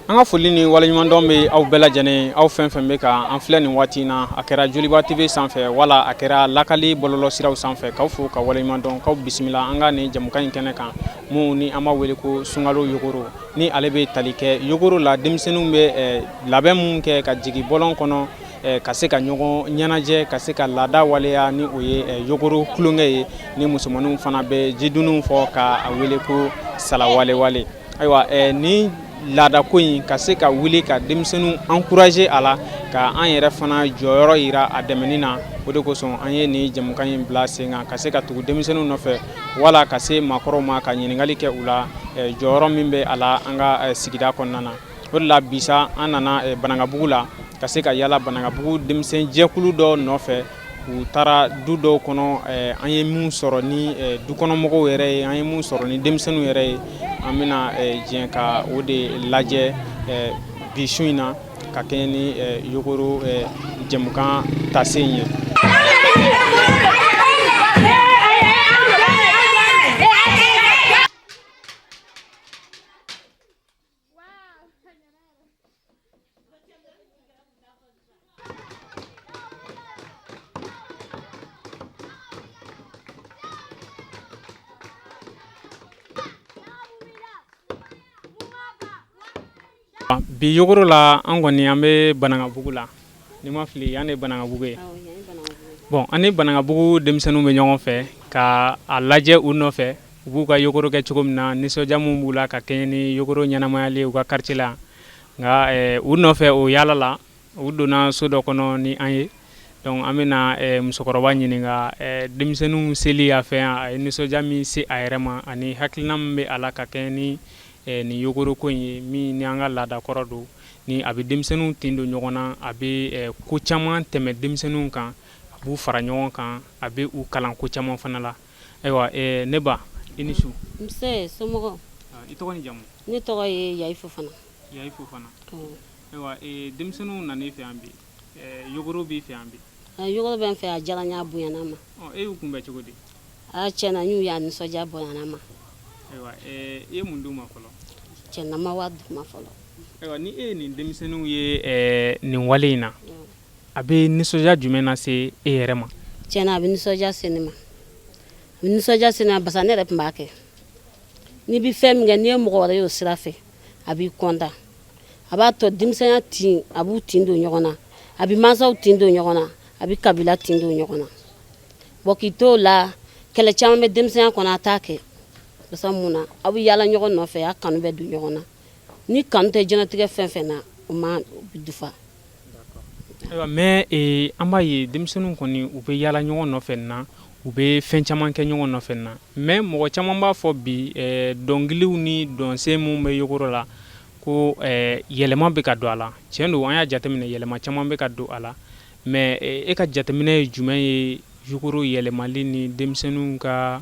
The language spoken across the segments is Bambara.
an ka foli ni waleɲumandɔn bɛ aw bɛɛ lajɛlen ye aw fɛn fɛn bɛ ka an filɛ nin waati in na a kɛra joliba tv sanfɛ wala a kɛra lakali bɔlɔlɔsiraw sanfɛ k'aw fo ka waleɲumandɔn k'aw bisimila an ka nin jamukan in kɛnɛ kan min ni an b'a wele ko sunkalo yogoro ni ale bɛ tali kɛ yogoro la denmisɛnninw bɛ eh, labɛn min kɛ ka jigin bɔlɔn kɔnɔ Eh, ka se ka ɲɔgɔn ɲɛnajɛ ka se ka laada waleya ni o ye eh, yogoro tulonkɛ ye ni musomanninw fana bɛ jidunun fɔ ka a wele ko salawalewale ayiwa eh, nin laadako in ka se ka wuli ka denmisɛnninw encourager a la ka an yɛrɛ fana jɔyɔrɔ yira a dɛmɛni na o de kosɔn an ye nin jamukan in bila sen kan ka se ka tugu denmisɛnninw nɔfɛ wala ka se maakɔrɔw ma ka ɲininkali kɛ u la jɔyɔrɔ min bɛ a la an ka sigida kɔnɔna na O de la bi sa an nana banankabugu la ka se ka yala banankabugu denmisɛn jɛkulu dɔ nɔfɛ u taara du dɔw kɔnɔ an ye min sɔrɔ ni dukɔnɔmɔgɔw yɛrɛ ye an ye min sɔrɔ ni denmisɛnninw yɛrɛ ye an bɛna jɛn ka o de lajɛ bi su in na ka kɛɲɛ ni yogoro jamukan taasen ye Bi yogoro la an kɔni an bɛ banankabugu la Ni n ma fili yan de ye Banankabugu ye. Awɔ yan ye Banankabugu ye. Bon an ni Banankabugu denmisɛnninw bɛ ɲɔgɔn fɛ ka a lajɛ u nɔfɛ u b'u ka yogoro kɛ cogo min na nisɔndiya min b'u la ka kɛɲɛ ni yogoro ɲɛnamayali ye u ka quartier la yan nka ɛɛ u nɔfɛ o yaala la u donna so dɔ kɔnɔ ni an ye donc an bɛna ɛɛ musokɔrɔba ɲininka ɛɛ denmisɛnninw seli a fɛ yan a ye nisɔndiya min se a yɛrɛ ma ani hakilina min bɛ a la ka kɛɲɛ ni ɛɛ nin yogoro ko in ye min ni an ka laada kɔrɔ don Ni a bɛ denmisɛnninw tin don ɲɔgɔn na a bɛ ko caman tɛmɛ denmisɛnninw kan a b'u fara ɲɔgɔn kan a bɛ u kalan ko caman fana la ayiwa ne ba i ni su nse somɔgɔw i tɔgɔ ni jamu ne tɔgɔ ye yayi fofana yayi fofana ayiwa denmisɛnninw nana i fɛ yan bi b'i fɛ yan bi yogoro bɛ n fɛ a diyara n ye a bonyana n ma e y'u kunbɛn cogo di cɛn na n y'u ye a nisɔndiya bonyana n ma e ye mun d'u ma fɔlɔ cɛn na n ma wari d'u ma fɔlɔ ayiwa ni e ye nin denmisɛnninw ye nin wale in na a bɛ nisɔndiya jumɛn na se e yɛrɛ ma cɛn na a bɛ nisɔndiya se ne ma a bɛ nisɔndiya se ne ma parce que ne yɛrɛ tun b'a kɛ n'i bɛ fɛn min kɛ n'i ye mɔgɔ wɛrɛ y'o sira fɛ a b'i kɔntan a b'a to denmisɛnya tin a b'u tin don ɲɔgɔn na a bɛ mansaw tin don ɲɔgɔn na a bɛ kabila tin don ɲɔgɔn na bon k'i to o la kɛlɛ caman bɛ denmisɛnya kɔnɔ a t'a kɛ pase mun na aw bɛ yaala ɲɔgɔn nɔfɛ a kanu bɛ don ɲɔgɔn na ni kanu tɛ diɲɛlatigɛ fɛn fɛn na o ma dafa Ayiwa mais ee an b'a ye denmisɛnninw kɔni u bɛ yaala ɲɔgɔn nɔfɛ nin na, u bɛ fɛn caman kɛ ɲɔgɔn nɔfɛ nin na mais mɔgɔ caman b'a fɔ bi ɛɛ dɔnkiliw ni dɔnsen minnu bɛ yogoro la ko ɛɛ yɛlɛma bɛ ka don a la, tiɲɛ don an y'a jateminɛ yɛlɛma caman bɛ ka don a la mais e ka jateminɛ ye jumɛn ye yogoro yɛlɛmali ni denmisɛnninw ka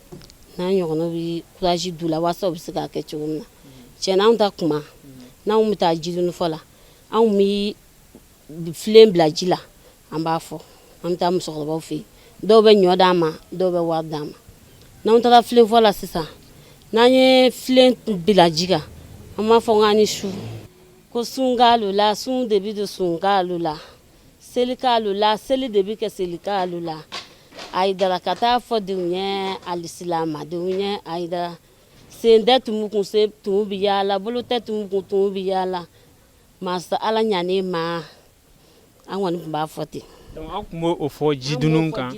n'an ɲɔgɔnnaw bɛ kuraji don u la waasa u bɛ se k'a kɛ cogo min na cɛn anw ta kuma n'anw bɛ taa jidunufɔ la anw bɛ filen bila ji la an b'a fɔ an bɛ taa musokɔrɔbaw fɛ yen dɔw bɛ ɲɔ d'an ma dɔw bɛ wari d'an ma n'an taara filenfɔ la sisan n'an ye filen bila ji kan an b'a fɔ k'an ni su ko sunkalo la sun de bɛ don sunkalo la selikalo la seli de bɛ kɛ selikalo la ayidara ka taa fɔ denw ye alisilamɛdenw ye ayidara sen tɛ tumu kun sen tumu bɛ yaala bolo tɛ tumu kun tumu bɛ yaala masa ala ɲaani ma an kɔni tun b'a fɔ ten aw tun b' o fɔ jidunu kan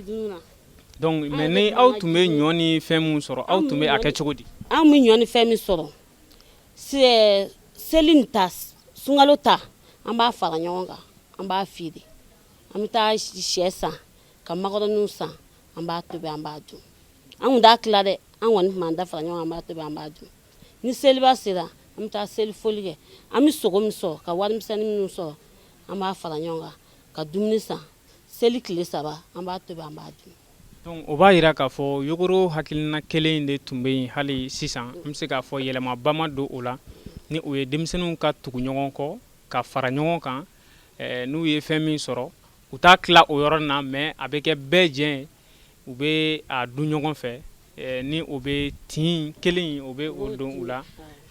mɛ ni aw tun bɛ ɲɔ ni fɛn min sɔrɔ aw tun bɛ a kɛ cogo di anw bɛ ɲɔ ni fɛn min sɔrɔ selinin ta sunkalo ta an b'a fara ɲɔgɔn kan an b'a feere an bɛ taa shɛ san ka makɔrɔniw san an b'a tobi an b'a dun an kun t'a tila dɛ an kɔni tun b'an da fara ɲɔgɔn kan an b'a tobi an b'a dun ni seliba sera an bɛ taa seli foli kɛ an bɛ sogo min sɔrɔ ka warimisɛnnin minnu sɔrɔ an b'a fara ɲɔgɔn kan ka dumuni san seli tile saba an b'a tobi an b'a dun dɔnku o b'a yira k'a fɔ yogoro hakilina kelen in de tun bɛ yen hali sisan an bɛ se k'a fɔ yɛlɛmaba ma don o la ni o ye denmisɛnninw ka tugu ɲɔgɔn kɔ ka fara ɲɔgɔn kan n'u ye fɛn min sɔrɔ u t'a tila o yɔrɔ na mɛ a bɛ kɛ bɛɛ jɛ u bɛ a dun ɲɔgɔn fɛ ni o bɛ tin kelen o bɛ o don u la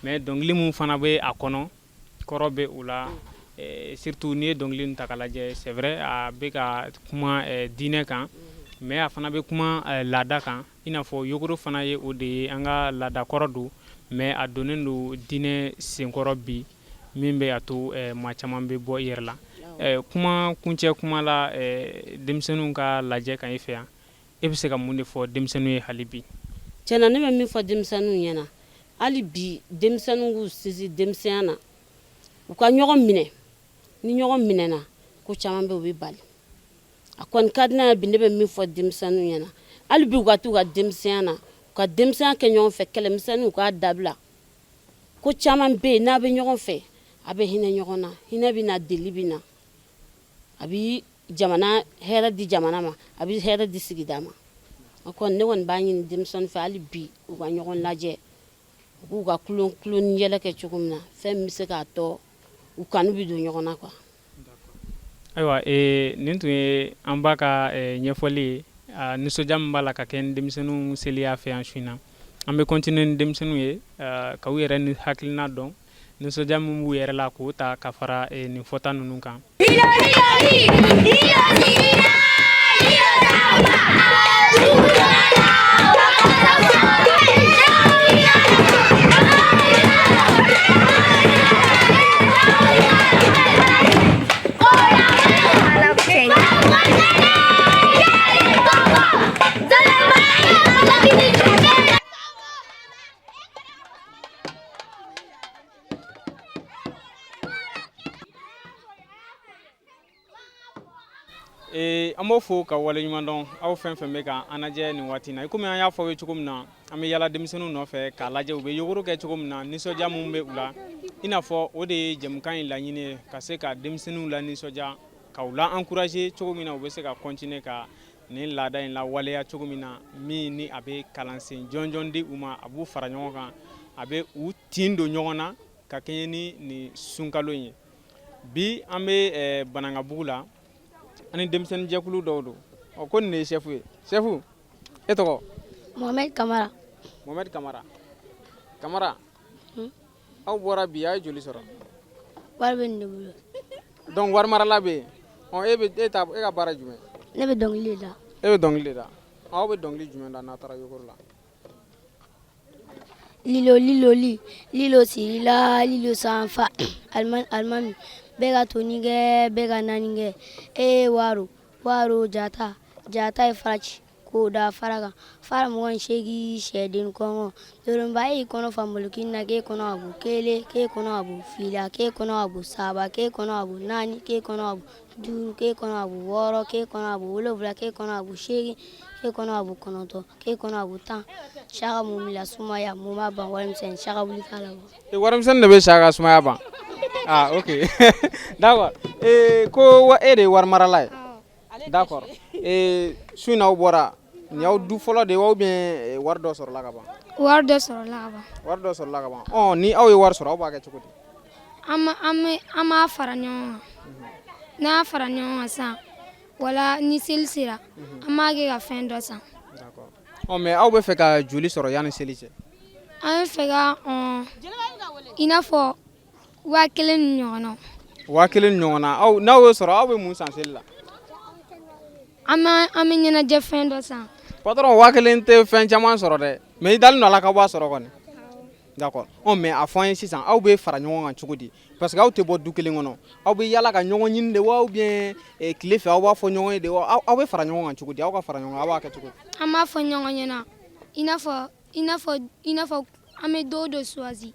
mɛ dɔnkili min fana bɛ a kɔnɔ kɔrɔ bɛ o la surtout n'i ye dɔnkili in ta k'a lajɛ c'est vrai a bɛ ka kuma diinɛ kan mɛ a fana bɛ kuma laada kan i n'a fɔ yogoro fana ye o de ye an ka laada kɔrɔ don mɛ a donnen don diinɛ senkɔrɔ bi min bɛ a to maa caman bɛ bɔ i yɛrɛ la kuma kuncɛ kuma la denmisɛnninw ka lajɛ ka fɛ yan E bɛ se ka mun de fɔ denmisɛnninw ye hali bi cɛn na ne bɛ min fɔ denmisɛnninw ɲɛ na hali bi denmisɛnninw k'u sinsin denmisɛnya na u ka ɲɔgɔn minɛ ni ɲɔgɔn minɛna ko caman bɛ u bɛ bali a ko ka di bi ne bɛ min fɔ denmisɛnninw ɲɛ na hali bi u ka t'u ka denmisɛnya na u ka denmisɛnya kɛ ɲɔgɔn fɛ kɛlɛmisɛnnin u k'a dabila ko caman bɛ yen n'a bɛ ɲɔgɔn fɛ a bɛ hinɛ ɲɔgɔn na hinɛ bɛ na deli bɛ na a jamana hɛrɛ di jamana ma a bɛ hɛrɛ di sigida ma o kɔni ne kɔni b'a ɲini denmisɛnninw fɛ hali bi u ka ɲɔgɔn lajɛ u k'u ka kulon kulon ni yɛlɛ kɛ cogo min na fɛn min bɛ se k'a to u kanu bɛ don ɲɔgɔn na quoi ayiwa ee, nin tun ye an ba ka eh, ɲɛfɔli ye ah, nisɔndiya min b'a la ka kɛɲɛ ni denmisɛnninw seli y'a fɛ yan su in na an bɛ continuer ni denmisɛnninw ye ah, ka u yɛrɛ ni hakilina dɔn Nisɔndiya min b'u yɛrɛ la k'o ta ka fara eh, nin fɔta ninnu kan. an b'aw fo ka waleɲuman dɔn aw fɛn fɛn bɛ ka an lajɛ nin waati na i kɔmi an y'a fɔ aw ye cogo min na an bɛ yala denmisɛnnin nɔfɛ k'a lajɛ u bɛ yogoro kɛ cogo min na nisɔndiya min bɛ u la i n'a fɔ o de ye jɛmukan in laɲini ye ka se ka denmisɛnninw lanisɔndiya ka u la encourager cogo min na u bɛ se ka continuer ka nin laada in lawaleya cogo min na min ni a bɛ kalansen jɔnjɔn di u ma a b'u fara ɲɔgɔn kan a bɛ u tin don ɲɔgɔn na ka kɛɲɛ ni nin sunkalo in ye bi an bɛ eh, banankabugu la ani denmisɛnnin jɛkulu dɔw don ɔ ko nin de ye sɛfu ye sɛfu e tɔgɔ mohamɛdi kamara mohamɛdi kamara kamara hmm? aw bɔra bi a ye joli sɔrɔ wari bɛ ne bolo donc wari marala bɛ yen ɔ e bɛ e ta e ka baara jumɛn ne bɛ dɔnkili da e bɛ dɔnkili de da aw bɛ dɔnkili jumɛn da n'a taara yogoro la lilo lilo li lilo sirila lilo sanfa alimami alimami bɛɛ ka toni kɛ bɛɛ ka naani kɛ e ye waro waro jata jata ye faraci k'o da fara kan fara mugan seegin sɛden kɔngɔ doronba y'i kɔnɔ fanboloki na k'e kɔnɔ a bu kelen k'e kɔnɔ a bu fila k'e kɔnɔ a bu saba k'e kɔnɔ a bu naani k'e kɔnɔ a bu duuru k'e kɔnɔ a bu wɔɔrɔ k'e kɔnɔ a bu wolowula k'e kɔnɔ a bu seegin k'e kɔnɔ a bu kɔnɔntɔn k'e kɔnɔ a bu tan saka mun bila sumaya mun b'a ban warimisɛn saka wuli k'a la e warimisɛn de bɛ sa ka sumaya ban aa ah, ok d'accord ee ko wa e de ye wari marala ye Da kɔrɔ su in awaw bɔra ni y'aw du fɔlɔ de aw bɛ wari dɔ sɔrɔ la ka ban wari dɔ sɔrɔ wari dɔ sɔrɔ la kaban ni aw ye wari sɔrɔ aw b'a kɛ cogo di an b'a fara ɲɔgɔn n'a fara ɲɔgɔn san wala ni seli sera an b'a kɛ ka fɛn dɔ san mɛ aw bɛ fɛ ka joli sɔrɔ yan ni seli cɛ an fɛ i n'a fɔ waa kelen ni ɲɔgɔn na waa kelen ni ɲɔgɔn na aw n'aw y'o sɔrɔ aw bɛ mun san seli la an b'a an bɛ ɲɛnajɛ fɛn dɔ san patron waa kelen tɛ fɛn caman sɔrɔ dɛ mais i dalen don a la k'aw b'a sɔrɔ kɔni d'accord ɔ mais a fɔ an ye sisan aw bɛ fara ɲɔgɔn kan cogo di parce que aw tɛ bɔ du kelen kɔnɔ aw bɛ yala ka ɲɔgɔn ɲini de wa ou bien eh, tile fɛ aw b'a fɔ ɲɔgɔn ye de wa aw aw bɛ fara ɲɔgɔn kan cogo di aw ka fara ɲɔgɔn kan aw b'a kɛ cogo di an b'a fɔ ɲɔgɔn ɲɛna i n'a fɔ i n'a fɔ i n'a fɔ an bɛ don dɔ choisi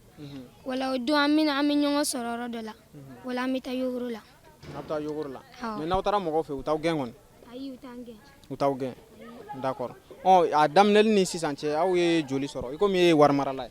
wala o don an bɛ an bɛ ɲɔgɔn sɔrɔ yɔrɔ dɔ la wala an bɛ taa yogoro la aw bɛ taa yogoro la mais n'aw taara mɔgɔw fɛ u t'aw gɛn kɔni u t'an gɛn d'accord a daminɛli ni sisan cɛ aw ye joli sɔrɔ i komi e ye wari marala ye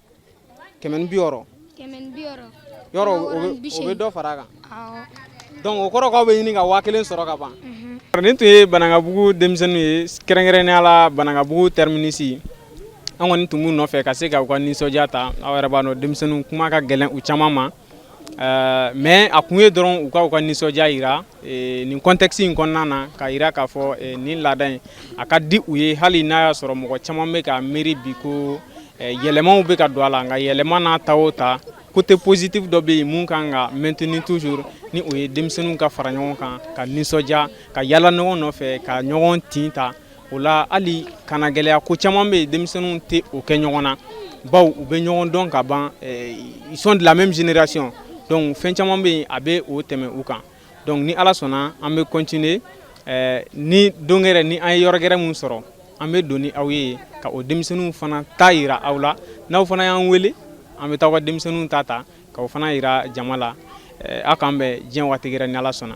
kɛmɛ ni bi wɔɔrɔ yɔrɔ o bɛ dɔ fara a kan donc o kɔrɔ k'aw bɛ ɲini ka waa kelen sɔrɔ ka ban nin tun ye Banankabugu denmisɛnninw ye kɛrɛnkɛrɛnnenya la Banankabugu terminus an kɔni tun b'u nɔfɛ ka se ka u ka nisɔndiya ta aw yɛrɛ b'a dɔn denmisɛnninw kuma ka gɛlɛn u caman ma Euh, mais a kun ye dɔrɔn u ka u ka nisɔndiya yira euh, nin contexte in kɔnɔna na k'a yira k'a fɔ euh, nin laada in a ka di u ye hali n'a y'a sɔrɔ mɔgɔ caman bɛ ka miiri bi ko yɛlɛmaw bɛ ka don a la nka yɛlɛma n'a ta o ta côté positif dɔ bɛ yen mun kan ka maintenir toujours ni o ye denmisɛnninw ka fara ɲɔgɔn kan ka nisɔndiya ka yala ɲɔgɔn nɔfɛ ka ɲɔgɔn tin ta o la hali kana gɛlɛya ko caman bɛ yen denmisɛnninw tɛ o kɛ ɲɔgɔn na bawo u bɛ ɲɔgɔn dɔn ka ban eh, ils sont de la même génération donc fɛn caman bɛ yen a bɛ o tɛmɛ u kan donc ni ala sɔnna an bɛ continuer eh, ni don gɛrɛ ni an ye yɔrɔ gɛrɛ min sɔrɔ an bɛ don ni aw ye ka o denmisɛnninw fana ta yira aw la n'aw fana y'an wele an bɛ taa aw ka denmisɛnninw ta ta k'o fana yira jama la eh, aw k'an bɛn diɲɛ waati gɛrɛ ni ala sɔnna